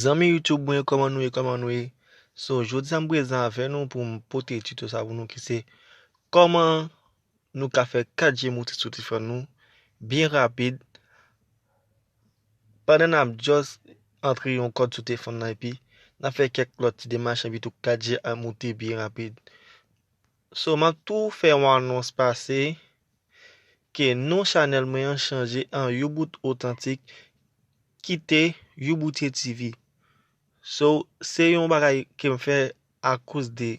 Zanmi YouTube mwen koman nou ye koman nou ye So jodi an prezan avè nou pou m pote tuto sa pou nou ki se Koman nou ka fè 4 je mouti sou tifòn nou Byen rapid Pandan n ap just antre yon kòd sou tefòn nan epi N ap fè kèk lòt ti demach epi tou 4 je a mouti byen rapid So m ap tou fè yon anons pase Ke non chanel mwen an chanje an you bout otantik kite youboutie TV so se yon bagay kem fè akoz de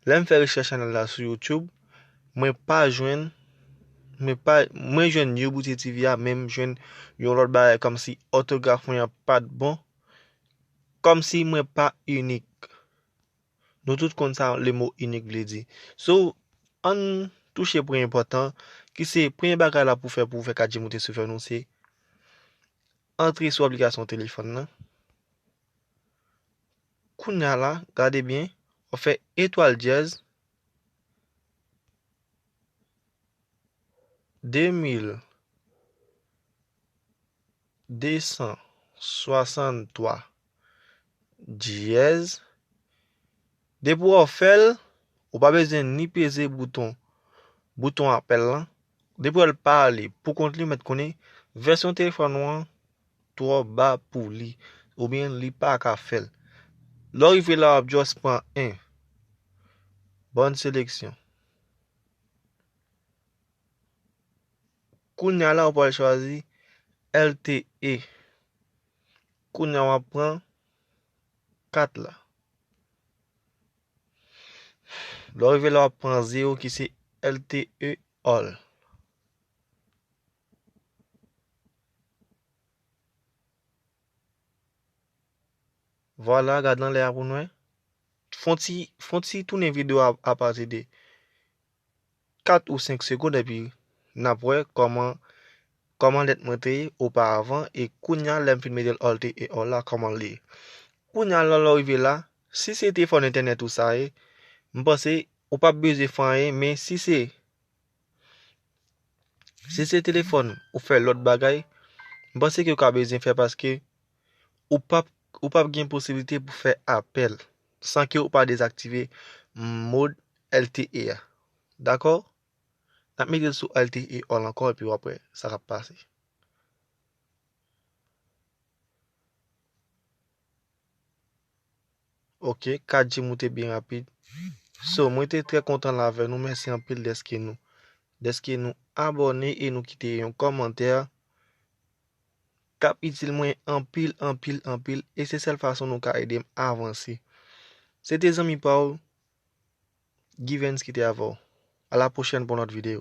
lèm fè rechèch chanel la sou YouTube mwen pa jwenn mwen pa mwen jwenn youboutie TV a men m jwenn yon lòt bagay kòmsi òtograf mwen an pat bon kòmsi mwen pa inik. Nou tout konn sa le mo inik vle di. So, ann touche pwen enpòtan ki se premye bagay la pou fè pou fè 4G moute sou fè nou se antre sou aplikasyon telefòn nan. Kounya la, gade byen, ou fè etwal dyèz 2263 Diyèz. Depi w fè l, ou pa bezwen ni peze bouton bouton apèl lan. Depi w wè l pa ale pou kont li, ou mèt konnen vèsyon telefòn ou an twò ba pou li oubyen li pa ka fè l. Lè w rive la, w ap jis pran 1. Bòn seleksyon. Kounya la, ou pral chwazi LTE. Kounya wap pran 4 la. Lè w rive la wap pran 0 ki se LTE all. Vwala gad nan lè a pou nou wè. Fon ti fon ti tounen video a apati de 4 ou 5 segond epi nap wè kòman kòman lèt mwen te ye oparavan e kounya lèm fin metel alt e ò la kòman li ye kounya lè lè rive la si se te fòn entènèt ou sa ye m panse ou pap bezwen fè anyen men si se si se telefòn ou fè lòt bagay m panse ke ou ka bezwen fè paske ou pap ou pap gen posiblite pou fè apèl. san ke ou pa dezaktive mode LTE a dakò nap metel sou LTE all ankò epi wap wè sa kap pase. Ok 4G moute byen rapid. So mwen te trè kontan la avè nou, mèsi anpil deske nou deske nou abone e nou kite yon kòmantè. kap itil mwen anpil anpil anpil e se sèl fason nou ka edem avanse se te zanmi paw Givens ki te avèw a la pwochèn pou yon lòt video.